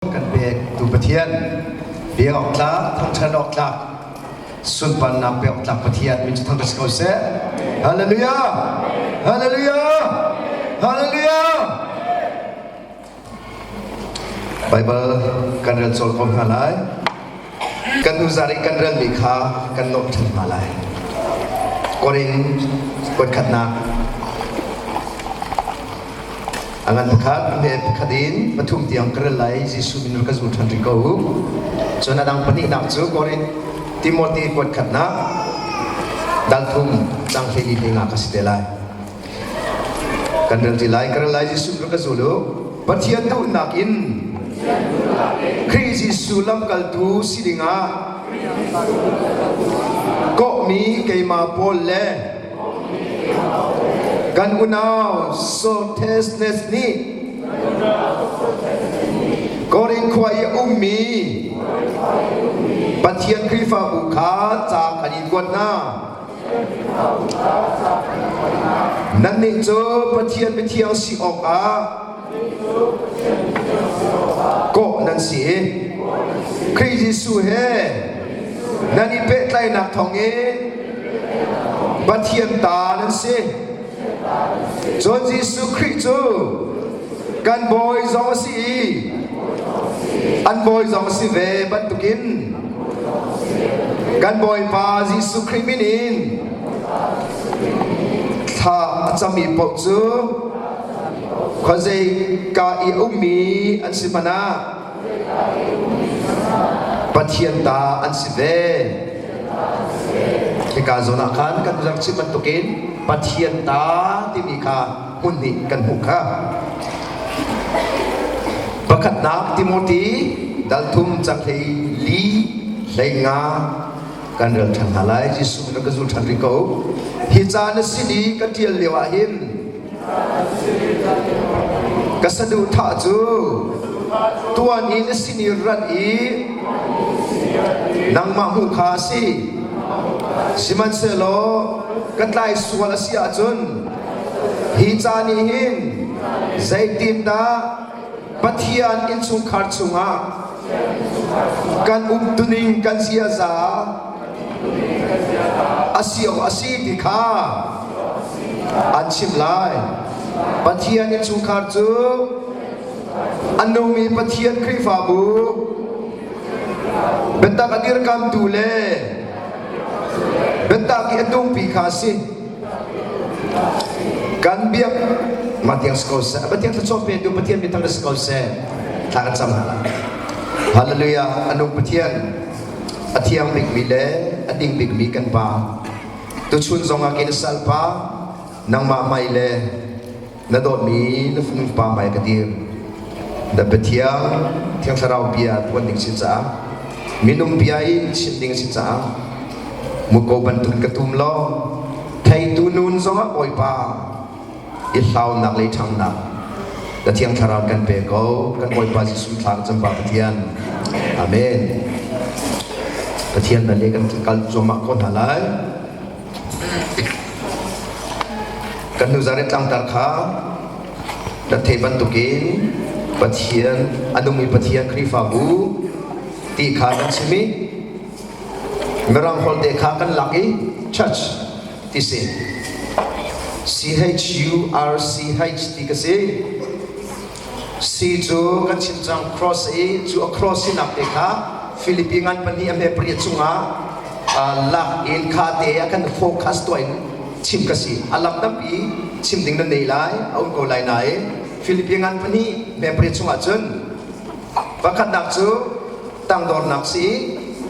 kan pektu Pathian bia awk tlak thangṭhat awk tlak sunparnak pe awk tlak Pathian min cu thangṭhat si ko seh hallelujah hallelujah hallelujah Baibal kan rel cawl ko hna lai kan nuzar i kan relmi kha kan nuamh ṭhan hna lai. Korin kuatkhatnak a ngan pakhat ne pakhat in pathum tiang ka rel lai Jesuh min ka zul ṭhan ring ko u cun a dang pahnihnak cu Korin Timothy kuatkhatnak dal thum cang hlei li hling ah ka si te lai Kan rel ti lai, ka rel lai Jesuh rak ka zul u. Pathian duhnak in Khrih Jesuh lamkaltu si dingah kawhmi keimah Paul le kan unau Socrates nih Korin khua i a ummi Pathian Khrihfabu kha ca kan in kuat hna. Nannih cu Pathian mithiang si awkah kawh nan si i Khrih Jesuh he nan i pehtlainak thawngin Pathian ta nan si. Cun Jesuh Khrih cu kan bawi zong a si i an bawi zong a si ve bantukin kan Bawipa Jesuh Khrih min in thla a cami paoh cu khuazei ka i ummi an si hmanh ah Pathian ta an si ve. Hika zawn ah khan kan rak chim bantukin Pathian ta timi kha hmun hnih kan hmuh kha. Pakhatnak Timothy dalthum caklei li hlei nga kan rel ṭhan hna lai Jesuh min ka zul ṭhan rih ko hi ca na si ni ka ṭial lio ah hin Ka saduhthah cu tuan in a sin i rat i nangmah hmu kha a si. Sihmanhsehlaw ka tlai sual a si ahcun hi ca nih hin zeitindah Pathian innchungkhar chungah kan umtuning kan ziaza asi o asi ti kha an chimh lai Pathian innchungkhar cu an nungmi Pathian Khrihfabu biatak a dirkamtu le biatak i a tungpi kha a si kan biak matiang si ko seh pathian thluachuah pe tu pathian mi tam si ko seh thla kan cam hna hallelujah anu pathian a thiang bikmi le a ding bikmi kan pa tuchun zongah kin salpa nangmah mai le na dawtmi na fanu pa hmai ka dir na pathian thiang thlarau bia tuan ding sin caah minung bia in chim ding sin caah muko bantuk ka tum lo theitu nun zongah bawipa i hlaunak le ṭhangnak na thiang thlarau kan pe ko kan bawipa Jesuh thlang chamba pathian amen pathian na le kan kal cuamah ko hna lai Kan nu zarit tlangtar kha na thei bantukin Pathian a nungmi Pathian Khrihfabu ti kha kan chim i Mirang holte kha kan lak i church ti si C H U R C H ti ka si C cu kan chim cang cross i cu a cross sinak te kha Philippi ngan pahnih a hme pariat chungah lak in kha te a kan focus tuah in chim ka si a lam tampi chim ding nan nei lai a um ko lai nain Philippi ngan pahnih hme pariat chungah cun vakhatnak cu tangdornak si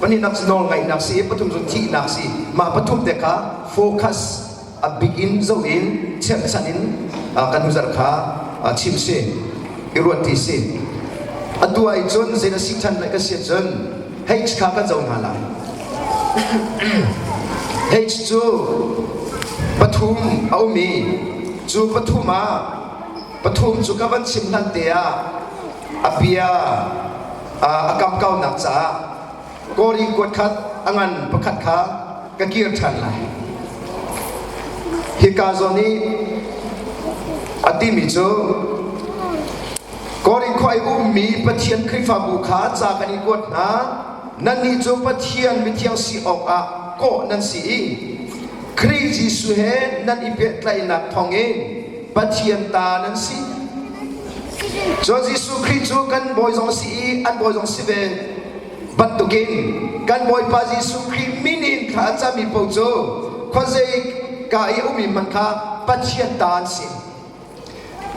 pahnihnak cu nawlngaihnak si pathum cu thihnak si mah pathum te kha focus a bik in zoh in cherhchan in kan huzar kha chim si i ruat ti si atu ah cun zei na si than lai ka si cun h kha ka zo hna lai h cu pathum a um i cu pathum ah pathum cu ka van chim hlan te ah a bia a kamkaunak caah kawri kuat khat a ngan pakhat kha ka kir ṭhan lai. Hi ka zawn i a timi cu Korin khua i ummi Pathian Khrihfabu kha ca kan i kuat hna. Nannih cu Pathian mithiang si awkah kawh nan si i Khrih Jesuh he nan i pehtlaihnak thawngin Pathian ta nan si. Cun Jesuh Khrih cu kan Bawi zong a si i an Bawi zong a si ve. bantukin kan Bawipa Jesuh Khrih min in thla a cami paoh cu khuazei ka i ummi man kha Pathian ta an si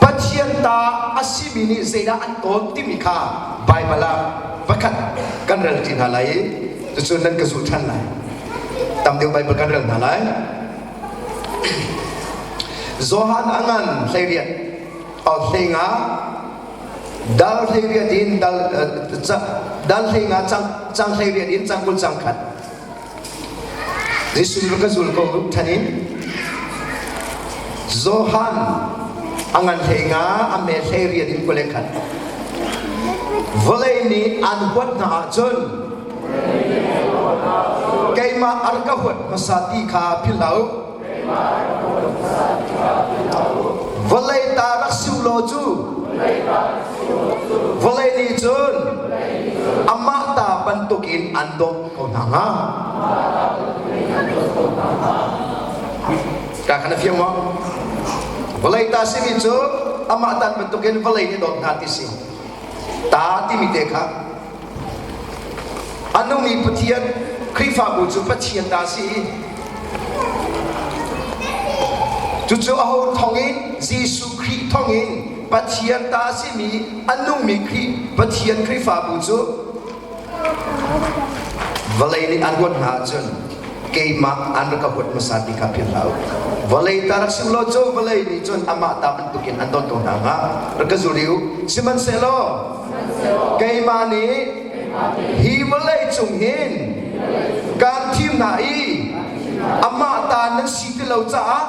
Pathian ta a simi nih zeidah an tawn timi kha Baibal ah vakhat kan rel ti hna lai i cucun nan ka zulh ṭhan lai tam deuh Baibal kan rel hna lai Johan a ngan hlei riat hlei nga dal hlei riat in dal dal hlei nga cang cang hlei riat in cang kul cang khat Jesuh ka zul ko than in Johan angan hlei nga ame hlei riat in kule khat vawlei ni an huat na ah cun keimah arka huat hmasa ti kha philhau vawlei ta rak si law cu vawlei nih cun amah ta bantuk in an dawt ko hna hnga ka kana fiang wa vawlei ta simi cu amah ta bantuk in vawlei nih dawt hna ti si ta timi te kha A nung i Pathian Khrihfabu cu Pathian ta si i cucu aho thong in Jesuh Khrih thong in Pathian ta a simi a nungmi Khrih Pathian Khrihfabu cu vawlei nih an huat hna ahcun keimah an rak ka huat hmasa ti kha philh hlah u. Vawlei ta rak si u law cu vawlei nih cun amah ta bantukin an don ko hna hnga rak ka zul i u. Sihmanhsehlaw Keimah nih hi vawlei cung hin kaan thim hna i amah ta nan si ti lo caah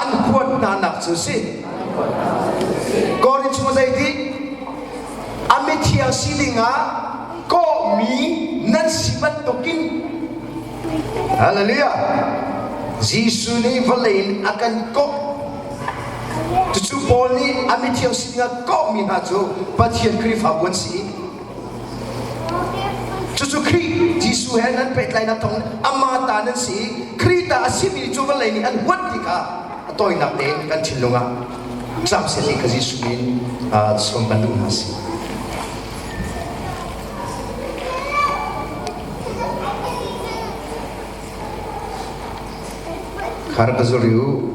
an kuat hnanak cu si. Korinth cu zeiti? A mithiang si dingah kawhmi nan si bantukin Hallelujah! Jesuh nih vawlei in a kan kawmh. Cucu Paul nih a mithiang sining a kawmhmi hna cu Pathian Khrihfabu an si i cucu Khrih Jesuh he nan pehtlainak thawng amah ta nan si i Khrih ta a simi cu vawlei nih an huat ti kha a tawinak tein kan thinlung ah cam seh ti ka Jesuh in sawm ban duh hna si. Khar ka zuriu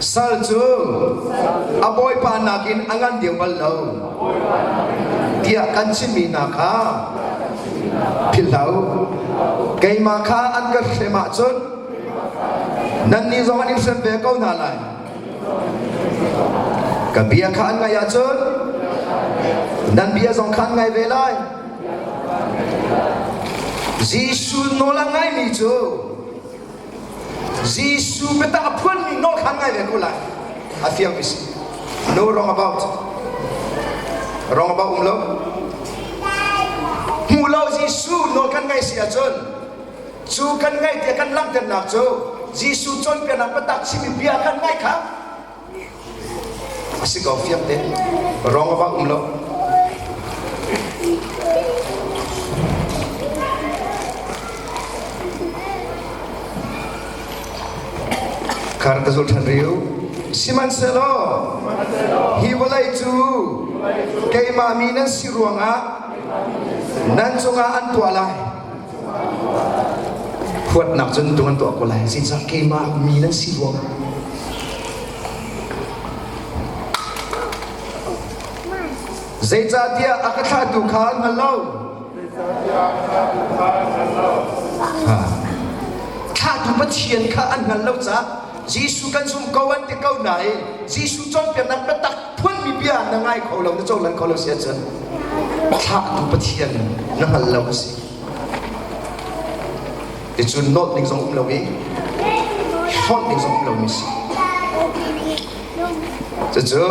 sal cu a bawipa nakin a ngan deuh bal lo tiah kan chimmi hna kha philhlo keimah kha an ka hrem ahcun nannih zong an in hrem ve ko hna lai Kan bia kha an ngaih ahcun nan bia zong kha an ngai ve lai. Jesuh nawl a ngaimi cu Jesuh biatak a phuanmi nawl kha an ngai ve ko lai. I feel me see. No wrong about. Wrong about um lo. Hmu lo Jesuh nawl kan ngaih si ahcun Cu kan ngaih tiah kan langhternak cu Jesuh cawnpiaknak biatak chimmi bia kan ngaih kha a si ko fiang te rong a va um lo khar ka zul than riu sihmanhsehlaw hi vawlei cu keimah mi nan si ruangah nan cungah an tuah lai Huatnak cun tung an tuah ko lai. Zeicah keimah mi nan si rua? Zeicahtiah a ka thlahtu kha an hngal lo. Thlahtu Pathian kha an hngal lo caah Jesuh kan zumh ko an ti ko nain Jesuh cawnpiaknak biatak phuanmi bia na ngai kho lo na cohlan kho lo si ahcun thlahtu pathian na hngal lo a si i cu nawlh ning zong um lo i hlawnh ning zong um lo mi si cucu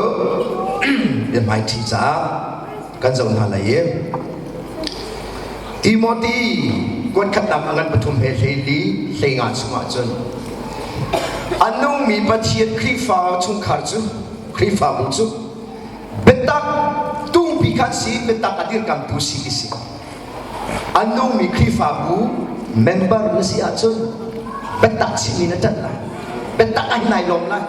biahmaiṭhi caah kan zoh hna lai i Timothy kuatkhatnak ngan pathum he hlei hlei nga chungah cun a nungmi Pathian Khrihfa chungkhar cu Khrihfabu cu biatak tungpi khan si biatak a dirkamh tu si ti si an nungmi Khrihfabu member na si ahcun biatak chimmi na ṭanh lai biatak a nai lom lai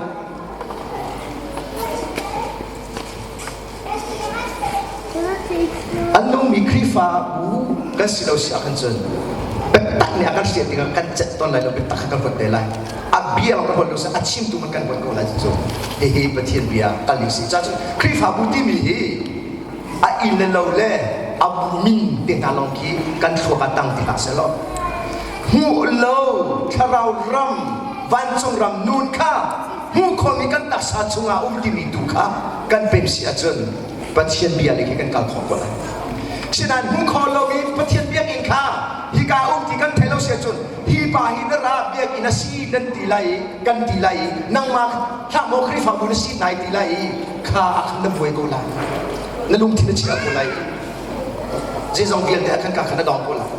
an nungmi Khrihfabu kan si lo si ah kan cun biatak nih a kan sian dingah kan cet ton lai lo biatak kha kan huat te lai a bia bak buat lo sa a chim tu man kan buat ko lai cu hihi pathian bia kal ni si cha cu khrifabu timi hi a in le lo le a min te hna long khi kan thluak a tang ti ka se lo hmu lo thlarau ram vancung ram nun kha hmu khomi kan tasa chunga um timi tu kha kan pem si ahcun pathian bia le khi kan kal khawh ko lai sinain hmu kho lomi pathian biakinn kha hika um ti kan thei lo si ahcun Hipa hi na ra biakinn na si nan ti lai i kan ti lai i nangmah hlah maw Khrihfabu na si nai ti lai i kha ah khan na buai ko lai na lungthin na chia ko lai zeizong vialte ah khan ka khan na dong ko lai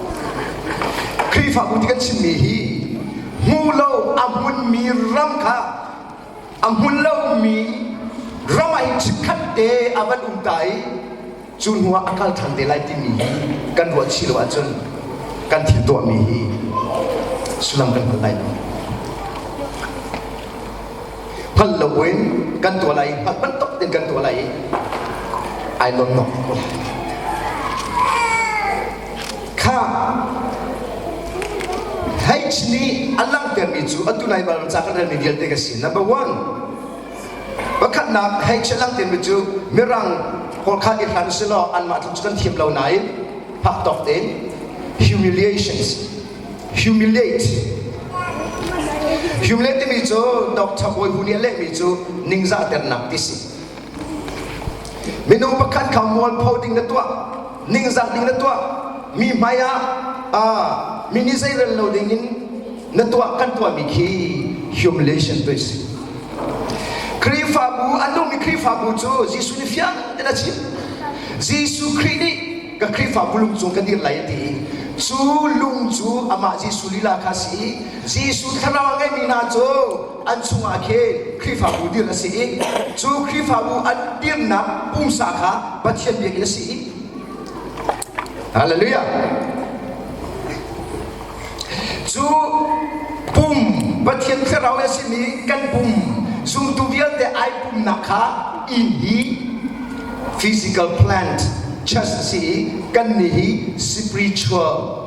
Khrihfabu ti kan chimmi hi hmu lo a hmunmi ram kha a hmun lomi ramai chikkhat te a van um ta i cu hnuah a kal ṭhan te lai timi hi kan ruah chih lo ahcun kan thil tuahmi hi sullam kan hal lai lo hngal lo buin kan tuah lai hngal bantuk in kan tuah lai i ai lawm nok ko lai H nih a langhtermi cu atu nai bal ca kan relmi vialte ka si. Number one, pakhatnak H a langhtermi cu mirang pawl kha i hran si law anmah tu cu kan thiam lo nain phak tawk tein humiliations humiliate humiliate timi cu Dr. Bawi Hu nih a lehmi cu ningzahternak ti si minung pakhat kha mualpho ding na tuah ningzak ding na tuah mi hmai ah mi nih zeirel lo ding in na tuah kan tuahmi khi humiliation tu si Khrihfabu an duhmi Khrihfabu cu Jesuh nih fiang tein a chim Jesuh Khrih nih ka Khrihfabu lung cung kan dir lai ti i cu lung cu amah Jesuh lila kha si i Jesuh thlarau a ngeimi hna cu an chungah khin Khrihfabu dirh a si i cu Khrihfabu an dirnak pumsa kha Pathian biak a si i Hallelujah cu pum Pathian thlarau a simi kan pum zumtu vialte ai pumnak kha inn hi physical plant church a si i kan nih hi spiritual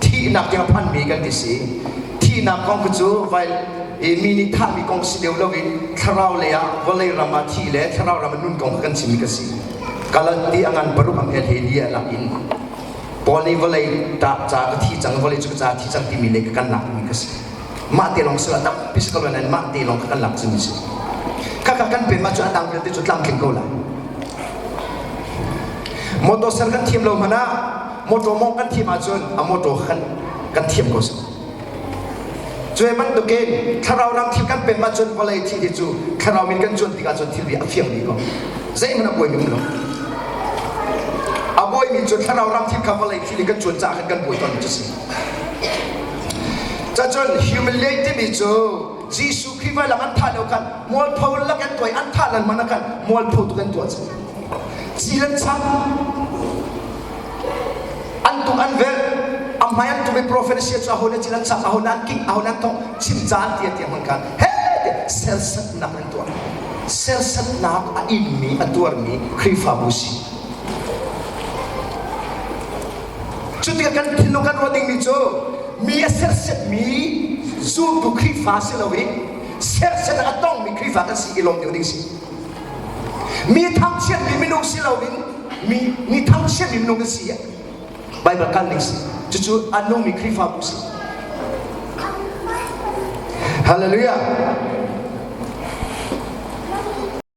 thihnak hi a phanmi kan ti si thihnak kong khi cu vai i mi nih thahmi kong si deuh loin thlarau lei ah vawlei ram ah thi le thlarau ram ah nun kong kan chimmi ka si kalanti a ngan paruk am el he lia lak in paul nih vawlei ta ca ka thi cang vawlei cu ka ca thi cang timi le ka kan lak mi ka si mah te lawng sila tampi sa lo nan mah te lawng ka kan lak cimi si kaka kan pe ma cu adang vialte cu tlamtling ko lai motor ser kan thiam lo mana mawṭaw mawngh kan thim ahcun a mawṭaw kha kan kan thiam ko sung cuai bantukin thlarau dang thil kan pem ahcun vawlei thih ti cu thlarau min kan cuan tikah cun thilri a fiang rih ko zeihmanh a buaimi um lo a buaimi cu thlarau dang thil kha vawlei thil i kan cuan caah khan kan buai ton cu si cacun humiliate timi cu Jesuh Khrih vai lang an thah leo khan mualpho lakin tuai an thah lan man kan mualpho tu kan tuah ci ci lan sang an tuk an velh a hmai an tum i profesia cu ahon cil an sak ahon an kik ahon an thawk chim caan tia tia hmun kan he sersatnak an tuar sersatnak a inmi a tuarmi Khrihfabu si cu tikah kan thin kan ruat dingmi cu mi a sersetmi zultu Khrihfa si lo i serset a tongmi Khrihfa kan si i lawm ding ding si mi thangchiatmi minung si lo in mi mi thangchiat in nung a si Bible kan ning si cucu an nung mi Khrihfa bu si Hallelujah